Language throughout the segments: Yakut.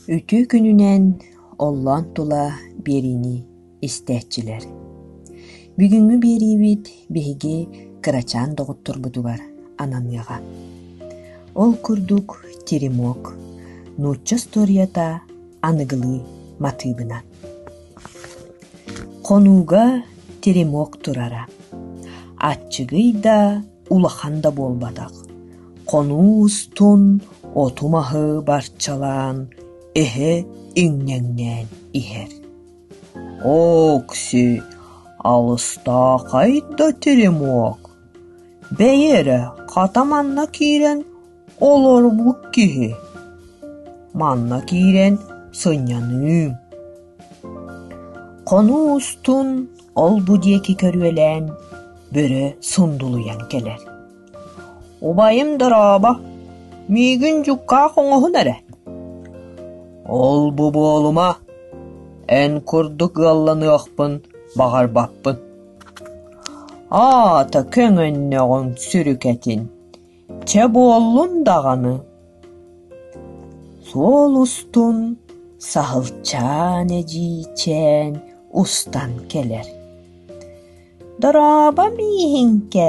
Үтүө күнүнэн оллоон тула биэриини истээччилэр. Бүгүҥҥү биэриибит биһиги кырачаан доҕотторбутугар ананыаҕа. Ол курдук теремок, нуучча устуоруйата аныгылыы матыыбынан. Хонууга теремок турара, аччыгый да улахан да буолбатах, хонуус-тун, оту маһы барчалаан, эһэ иҥнэҥнээн иһэр. Окси, алыстаахай да теремок, бэйи эрэ хата манна киирэн олорбут киһи. Манна киирэн сынньаныым. Хонуус-тун ол-бу диэки көрүөлээн бөрө сундулуйан кэлэр «Убайым дорообо, миигин дьуккаах оҥоһун эрэ!» «Ол-бу буолума, эн курдук ыалланыахпын баҕарбаппын» аата көҥөннөҕүҥ сүрүкэтин Чэ буоллун даҕаны, суол устун саһылчаан эдьиийчээн устан кэлэр. «Дорооба мииһиҥкэ,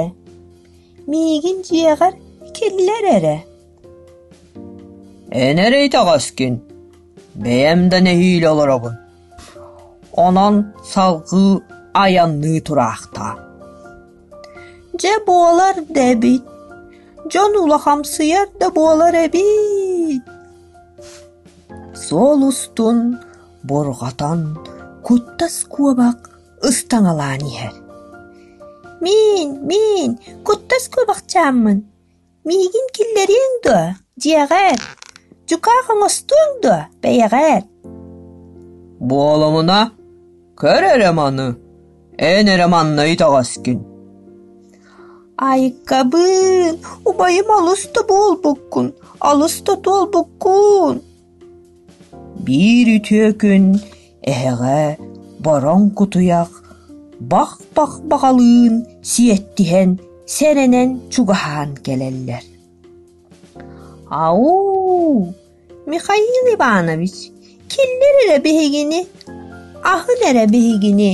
миигин дьиэҕэр киллэр эрэ» Эн эрэ итэҕэскин, бэйэм да нэһиилэ олоробун Онон салгыы айанныы тураахтаа. Дьэ буолар да эбит, дьон улахамсыйар да буолар эбит. Суол устун бурҕатан куттас куобах ыстаҥалаан иһэр. Миин, миин, куттас куобахчааммын Миигин киллэриэҥ дуо, дьиэҕэр? Дьукаах оҥостуоҥ дуо, бэйэҕэр? Буолумуна, көр эрэ маны, эн эрэ манна итэҕэскин Айыккабын, убайым алыс да буолбуккун, алыс да туолбуккун Биир үтүө күн эһэҕэ бороҥ кутуйах бах-бах баҕалыын сиэттиһэн сэрэнэн чугаһаан кэлэллэр: «Ау, Михаил Иванович, киллэр эрэ биһигини, аһын эрэ биһигини!»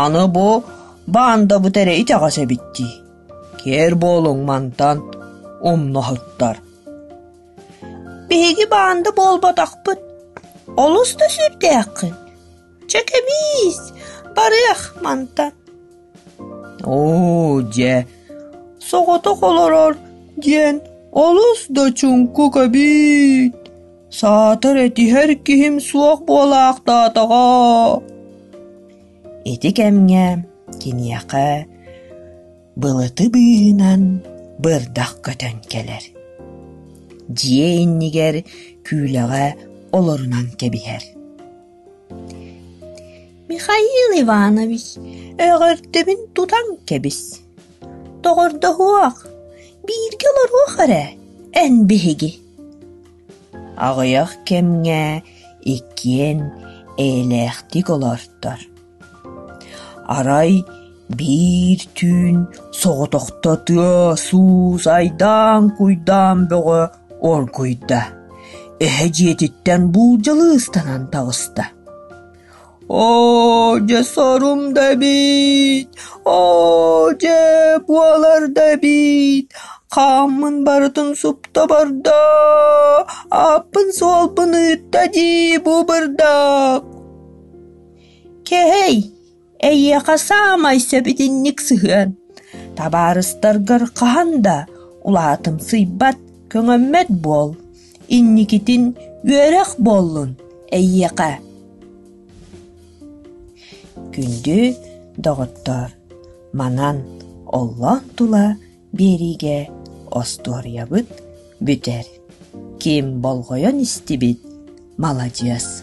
«Аны бу баандабыт эрэ итэҕэс эбит дии, киэр буолуҥ мантан умнаһыттар» Биһиги баанда буолбатахпыт. Олус да сүрдээххин. Чэ кэбиис, барыах мантан. Оо дьэ, соҕотох олорор диэн олус да чуҥку кэбиит. Саатар этиһэр киһим суох буолаахтаатаҕа. Ити кэмҥэ киниэхэ Былыты быыһынан бырдах көтөн кэлэр. Дьиэ иннигэр күүлэҕэ олорунан кэбиһэр. Михаил Иванович, өҕөрдөбүн тутан кэбис. Доҕордоһуох, бииргэ олоруох эрэ, эн биһиги. Аҕыйах кэмҥэ иккиэн эйэлээхтик олортор. Арай биир түүн соҕотохто тыас-уус, айдаан-куйдаан бөҕө оргуйда, эһэ дьиэтиттэн буулдьалыы ыстанан таҕыста: «Оо, дьэ, сорум да эбит! Оо, дьэ, буолар да эбит! Хааммын барытын супта барда, ааппын-суолбун ыытта дии бу бырдах!» Кэһэй, эйиэхэ саамай сөбүтүннүк сыһыан, табаарыстаргар хаһан да улаатымсыйбат, көҥөммөт буол, инникитин үөрэх буоллун эйиэхэ. Күндү доҕоттоор, манан оллоон тула биэриигэ остуоруйабыт бүтэр. Ким болҕойон истибит, маладьыас.